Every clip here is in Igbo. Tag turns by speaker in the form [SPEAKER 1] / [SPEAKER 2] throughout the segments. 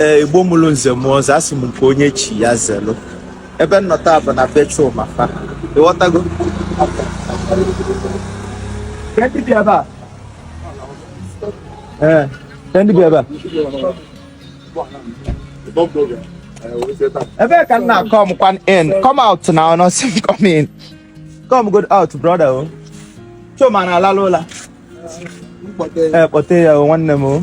[SPEAKER 1] ee igbo mụrụ nze mụọ ọzọ asị m nke onye chi ya zelụ ebe m nọ taa bụ na be Chuma fa ịghọtago Ka ndị bi ebe a ee ka ndị bi ebe a ebe ka m na-come kwan in come out now ọ nọ sị m come in come good out brother o Chuma na-alalụ ụla ee kpọte ya o nwanne m o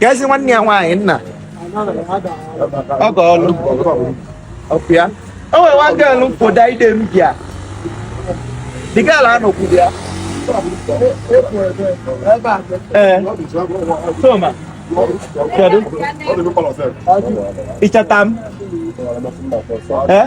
[SPEAKER 1] keezi nwanne ya nwaanyị nna ọ ga ọlụ okay o nwere nwa girl m fụ that day m bịa the girl a nọkwuru ya ee Chuma kedu ị chọta m ee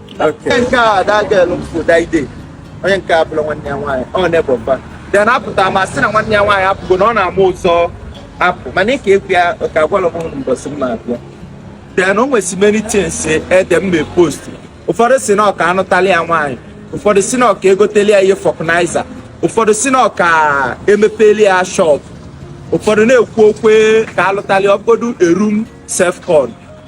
[SPEAKER 1] onye nke a that girl m fụ that day onye nke a bụrụ nwanne ya nwaanyị ọ na-ebọba then apụta m a sị na nwanne ya nwaanyị apụgo na ọ na-ama ụzọ apụ mana ịka egwu ya ka agwala m ụnụ mbọsị m ma-abịa then o nwezi many things ede m mee post ụfọdụ sị na ọ ka anụtali ya nwaanyị ụfọdụ sị na ọ ka egoteli ya ihe vulcanizer ụfọdụ sị na ọ ka emepeli ya shop ụfọdụ na-ekwu okwu ka alụtali ọ bụgodu a room self con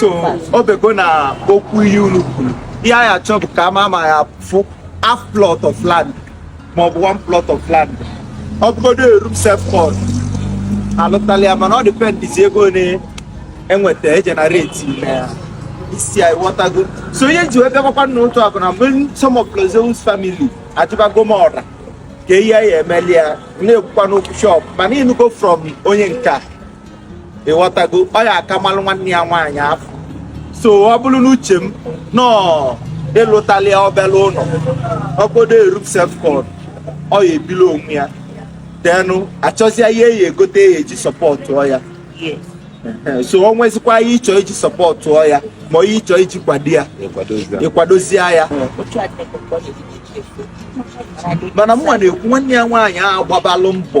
[SPEAKER 2] so ọ
[SPEAKER 1] bego
[SPEAKER 2] na
[SPEAKER 1] okwu ihe unu kwuru ihe anyị achọ bụ ka ama ma ya fụ half plot of land maọbụ one plot of land ọ bụgodo a room self con alụtala ya mana ọ dịpendizi ego one e nweta e generate na ya isi anyị ghọtago so ihe m ji wee bịakwakwa n'ụtụtụ a bụ na mgbe some of Lord Zeus family ajụbago m ọra kee ihe a ya-emeli ya na-ekwukwa n'okwu shop mana ịnụgo from onye nke a ịghọtago ọ ya aka malụ nwanne ya nwaanyị afụ so ọ bụrụ n'uche m n'ọ ịlụtali ya obele ụlọ ọ bụgodo a room self con ọ ya ebili onwe ya then a chọzịa ihe a ya-egote a ya-eji sọpọtụọ
[SPEAKER 2] ya so
[SPEAKER 1] o nwezikwa ihe ịchọ iji sọpọtụọ ya ma ihe ịchọ iji kwado ya ịkwadozie ya mana mụnwa na-ekwu nwanne ya nwaanyị ahụ gbabalụ mbọ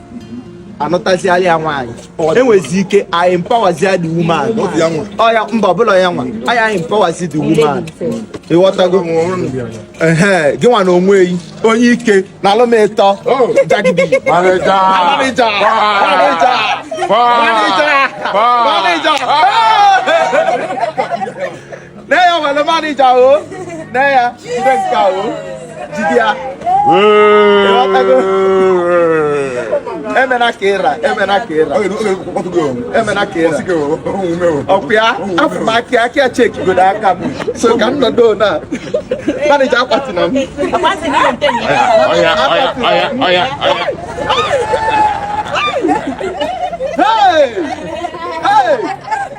[SPEAKER 1] anụtaziala ya nwaanyị e nwezi ike anyị empowerzie the woman ọya mba ọ bụlụ ya nwa anyị anyị empowerzi the woman ịghọtago ee gị nwa na onwe yi onye ike na alụmịtọ jagidi manager manager manager manager nne ya nwere manager o nne ya jide nke a o jide ya emena ka ịra emena ka ịra emena ka ịra ọkwa ya afọ m aka aka chekigodo aka m so ka m nọdụ na manager akwatina m Hey! Hey!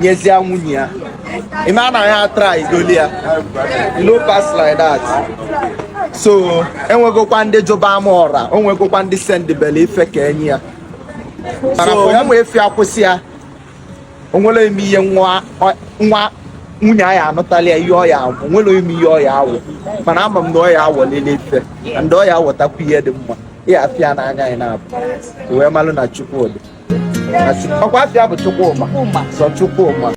[SPEAKER 1] nyezie nwunye ya ị ma na ya try igoli ya no pass like that so e nwegokwa ndị jụba ama ọra o nwegokwa ndị sendibela ife ka e nye ya so ya ma efi akwụsị ya o nwere eme ihe nwa nwunye anyị anụtala ya ihe ọ ya-awụ nwere ime ihe ọ ya-awụ mana ama m na ọya awọlele ife ndị ọya awọtakwa ihe dị mma ya afịa n'anya anyị na-abụ wee malụ na Chukwu
[SPEAKER 2] dị
[SPEAKER 1] ọkwa afịa bụ Chukwu ma sọ Chukwu ma